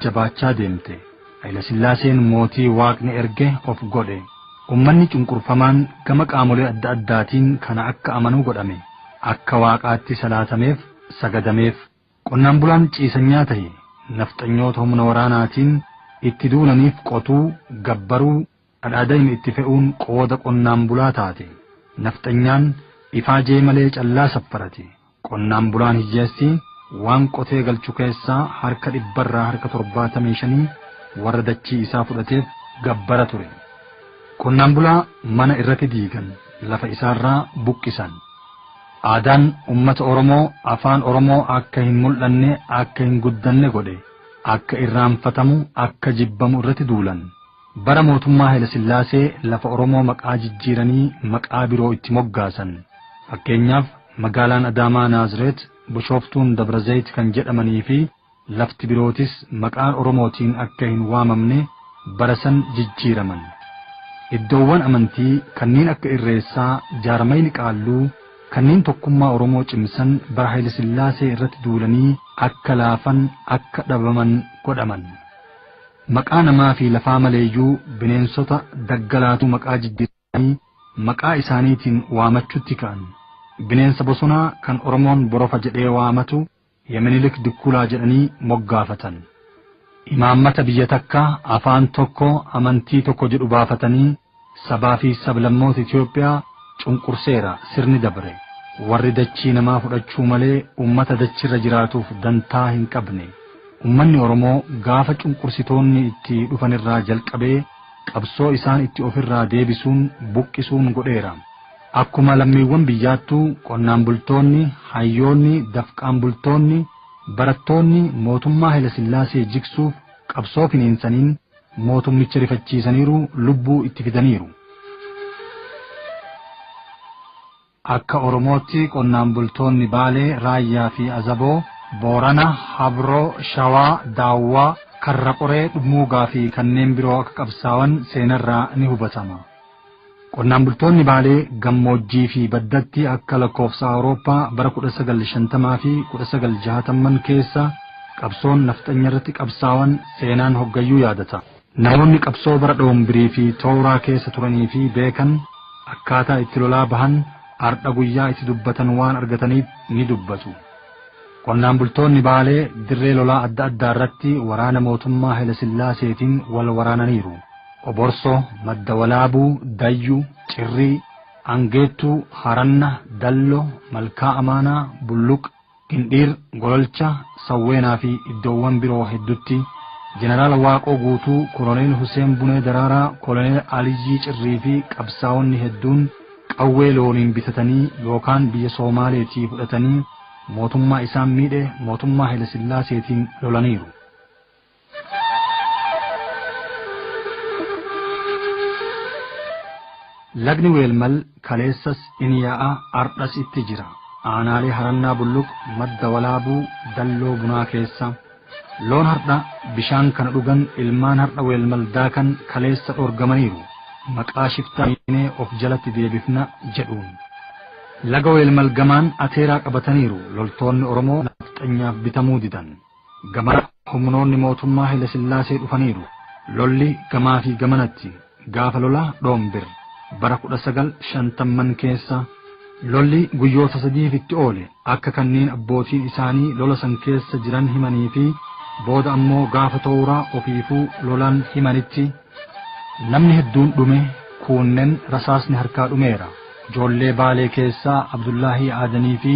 jabaachaa deemte. Hayilasillaaseen mootii Waaqni erge of godhe. Ummanni cunqurfamaan gama qaamolee adda addaatiin kana akka amanu godhame. Akka Waaqaatti salaatameef, sagadameef. Qonnaan bulaan ciisanyaa tahe. Nafxanyoota humna waraanaatiin itti duulaniif qotuu, gabbaruu, Adhaadayim itti fe'uun qooda qonnaan bulaa taate. Nafxanyaan ifaajee malee callaa saffarati. Qonnaan bulaan hiyyeessi waan qotee galchu keessaa harka dhibbarraa harka torbaatamii shanii warra dachii isaa fudhateef gabbara ture. Qonnaan bulaa mana irrati diigan, lafa isaarraa buqqisan. Aadaan ummata Oromoo, afaan Oromoo akka hin mul'anne, akka hin guddanne godhe. Akka irraanfatamu, akka jibbamu irrati duulan. Bara mootummaa Hayilasillaasee lafa Oromoo maqaa jijjiiranii maqaa biroo itti moggaasan. Fakkeenyaaf, magaalaan Adaamaa Naazireet, Bushooftuun Dabrazayit kan jedhamaniifi lafti birootis maqaan Oromootiin akka hin waamamne bara san jijjiiraman. Iddoowwan amantii kanneen akka Irreessaa, jaarmayni Qaalluu kanneen tokkummaa Oromoo cimsan bara Hayilasillaasee irratti duulanii akka laafan, akka dhabaman godhaman. Maqaa namaa fi lafaa maleeyyuu bineensota daggalaatu maqaa jijjiirratanii maqaa isaaniitiin waamachuutti ka'an. Bineensa bosonaa kan Oromoon Borofa jedhee waamatu ya Minilik Dukkulaa jedhanii moggaafatan. Imaammata biyya takka, afaan tokko, amantii tokko jedhu baafatanii Sabaa fi sablammoota Itoophiyaa cunqurseera sirni dabre. Warri dachii namaa fudhachuu malee ummata dachirra jiraatuuf dantaa hin qabne. Ummanni Oromoo gaafa cunqursitoonni itti dhufanirraa jalqabee qabsoo isaan itti ofirraa deebisuun, buqqisuun godheera. Akkuma lammiiwwan biyyaattuu qonnaan bultoonni, hayyoonni, dafqaan bultoonni, barattoonni mootummaa Hayilasillaasee jigsuuf qabsoo finiinsaniin, Mootummicha rifachiisaniiru, lubbuu itti fidaniiru. Akka Oromootti qonnaan bultoonni Baalee, Raayyaa fi Azaboo, Boorana, Habroo, Shawaa, Daawwaa, Karra Qoree, Dhummuugaa fi kanneen biroo akka qabsaawan seenarraa ni hubatama. Qonnaan bultoonni Baalee gammoojjii fi baddatti akka lakkoofsa Awurooppaa bara 1950 fi 1960man keessa qabsoon nafxanya irratti qabsaawan seenaan hoggayyuu yaadata. Namoonni qabsoo bara Dhoombirii fi Tooraa keessa turanii fi beekan akkaataa itti lolaa bahan ardha guyyaa itti dubbatan waan argataniif ni dubbatu. Qonnaan bultoonni Baalee dirree lolaa adda addaa irratti waraana mootummaa Haylasillaaseetiin wal waraananiiru. Oborso, Madda Walaabuu, Dayyu, Cirrii, Angeettuu, Haranna, Dallo, Malkaa Amaanaa, Bulluq, Indhiir, Gololcha, Sawweenaa fi iddoowwan biroo heddutti Jeneraal Waaqoo Guutuu, Koloneel Huseen Bunee Daraaraa, Koloneel Aliyyii Cirrii fi qabsaa'onni hedduun qawwee looniin bitatanii yookaan biyya Soomaaleetii fudhatanii Mootummaa isaan miidhe mootummaa Hayilesillaaseetiin lolaniiru. Lagni Weelmal kaleessas in yaa'a ardhas itti jira. Aanaalee Harannaa Bulluq, Madda Walaabuu, Dalloo Bunaa keessa. Loon hardha bishaan kana dhugan ilmaan hardha weelmal daakan kaleessa dhorgamaniiru maqaa shiftaa hiinee of jalatti deebifna jedhuun. Laga weelmal gamaan ateeraa qabataniiru loltoonni Oromoo nafxanyaaf bitamuu didan. Gamanaa humnoonni mootummaa Hailasillaasee dhufaniiru. Lolli gamaafi gamanatti. Gaafa lola Dhoombir bara 1950'n keessa lolli guyyoota sadiif itti oole akka kanneen abbootiin isaanii lola san keessa jiran himanii fi booda ammoo gaafa towra ofiifuu lolan himanitti namni hedduun dhume kuunnen rasaasni harkaa dhumeera. Joollee Baalee keessaa Abdullaahii Aadanii fi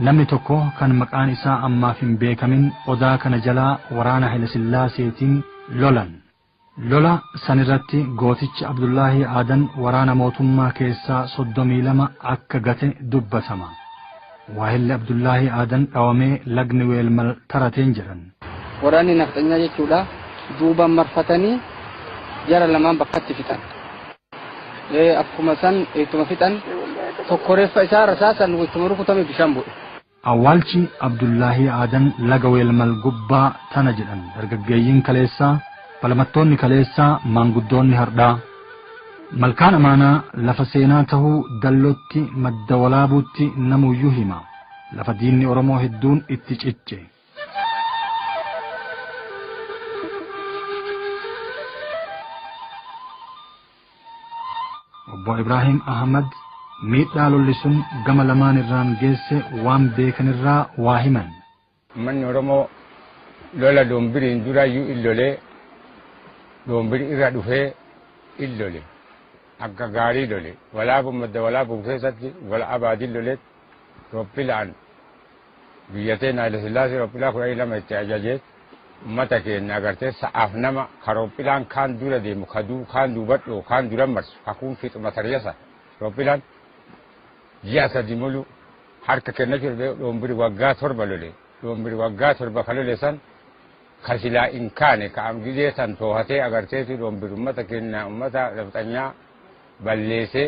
namni tokko kan maqaan isaa ammaaf hin beekamin odaa kana jalaa waraana Haylasillaaseetiin lolan. Lola sanirratti gootichi Abdullaahii Aadan waraana mootummaa keessaa 32 akka gate dubbatama. Waahilli Abdullaahii Aadan dhawamee lagni Weelmal tarateen jedhan. Waraanni nafxanyaa jechuudha duubaan marfatanii jara lamaan bakkatti fixan. Akkuma san ittuma fixan tokko reeffa isaa rasaasan ittuma rukutame bishaan bu'e. Awwaalchi Abdullaahii Aadan laga Weelmal gubbaa tana jedhan dargaggeeyyiin kaleessaa, falamattoonni kaleessaa, maanguddoonni hardhaa. Malkaan Amaanaa lafa seenaa tahuu Dallootti, Madda Walaabuutti namuuyyuu hima. Lafa diinni Oromoo hedduun itti cicce. Obbo Ibraahim Ahmad miidhaa lolli sun gama lamaan irraan geesse waan beekanirraa waa himan. Ummanni Oromoo lola Doombiriin duraayyuu in lolee Doombiri irra dhufee in lole. Akka gaarii lole. Walaabuu madda walaabuun keessatti gola Abaadin loleetti. Roppilaan biyya teenna Hayilasillaasee rophilaa kudhanii lama itti ajaje ummata keenna agartee sa'aaf nama ka rophilaan kaan dura deemu ka du, kaan duubadhoo kaan duran marsu ka kuun fixu mataryasa rophilaan ji'a sadi mulu harka kennachu dhabee dhoombiri waggaa torba lole dhoombiri waggaa torba ka lole san ka silaa hin kaane ka am gizee san toohatee agarteetu dhoombiri ummata keenna ummata nafxanyaa balleesee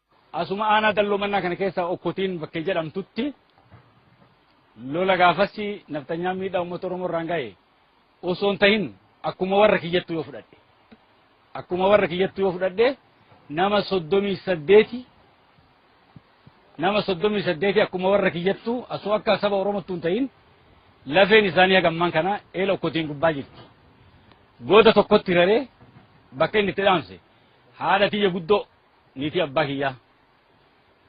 Asuma aanaa dalloo mannaa kana keessaa okkotiin bakkee jedhamtutti lola gaafassi nafxanyaan miidhaa uummata Oromoo irraan ga'e osoo hin tahin akkuma warra kiyyattuu yoo fudhadhe. Akkuma warra kiyyattuu yoo fudhadhe nama soddomii saddeeti nama soddomii saddeeti akkuma warra kiyyattuu asoo akka saba Oromottuu hin tahin lafeen isaanii hagammaan kana eela okkotiin gubbaa jirti. Goota tokkotti raree bakka inni itti dhaamse haadha tiyya guddoo Niitii abbaa kiyyaa.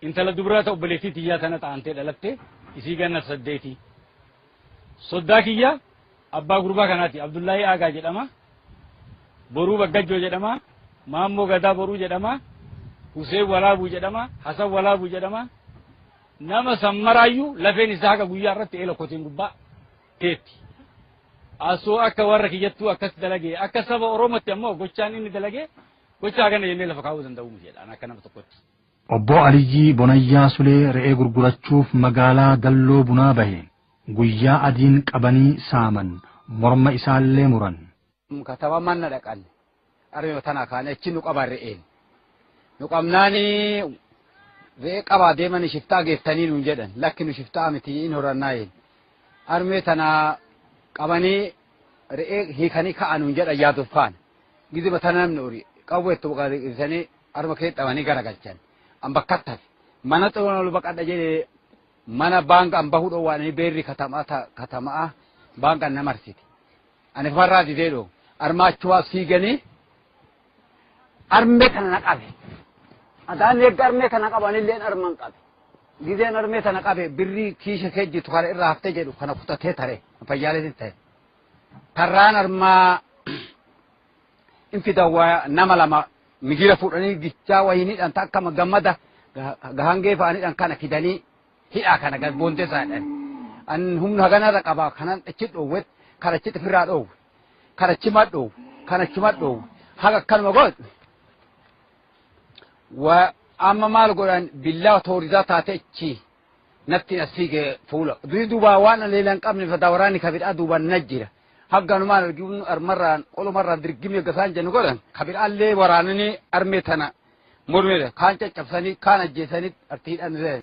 Intala dubraa ta obboleettii tiyyaa tanatti aantee dhalatte, isii ganna saddeeti. Soddaa kiyya abbaa gurbaa kanaati. Abdullaahii Aagaa jedhama. Boruu Baggajjoo jedhama. Maammoo Gadaa Boruu jedhama. Huseen Walaabuu jedhama. Hasan Walaabuu jedhama. Nama san maraayyuu lafeen isaa haga guyyaa irratti eela koteen gubbaa teetti. Asoo akka warra kiyyattuu akkas dalagee akka saba Oromootti ammoo gochaan inni dalagee Gocha akkana jennee lafa kaa'uu danda'uu miti jedha akka nama tokkotti. Obbo Aliyyii Bonayyaa Sulee re'ee gurgurachuuf magaalaa Dalloo Bunaa bahe guyyaa adiin qabanii saaman, morma isaallee muran. Kataba manna dhaqan arma tana kaane achi nu qaban re'een. Nu qabnaani re'ee qabaa deemanii shiftaa geettanii nuun jedhan lakki nu shiftaa miti hin horannaa jedhan. Armee tana qabanii re'ee hiikanii ka'a nuun jedhan yaadu faana. Gizima sana namni uri qawwee itti buqaa ibsanii harma kee dhabanii garagalchan. An bakka tafe mana xuroo ol baqadha jedhee mana baanka an bahuu dhoowwaanii beerri katamaa ta- katamaa baanka na marsite. Ani farraa didee dhoo armaachuwaaf siiganii Armee kana na qabe. Adaan eegga armee kana qabanillee arman qabe. Gizeen armee kana qabe birrii kiisha kee jitu kana irraa haftee jedhu kana kutatee tare fayyaaleetiin ta'e. Tarraan armaa infidawaa nama lama migira fuudhanii gichaa wayiniidhaan ta akkama gammada gahangee fa'aniidhaan kana fidanii hidhaa kana gad boonteessaadhaan. An humna haganarra qaba kanan achi dhoowwe kan achitti firraa dhoowwe. Kan achi madhu, kan achi madhu, haga akkanuma godhu. Wa amma maal godhan billaa toorisaa taate achi natti as fiige fuula. Durii duubaa waan aleela hin qabne fataa waraanni kabidhaa duubaan na jira. Hagganumaan arginu armarraan qolumarraan dirgimee gasaan jennu godhan kabidhaallee waraananii armee tana mormedha. Kaan caccabsanii kaan ajjeesanii artiidhaan illee.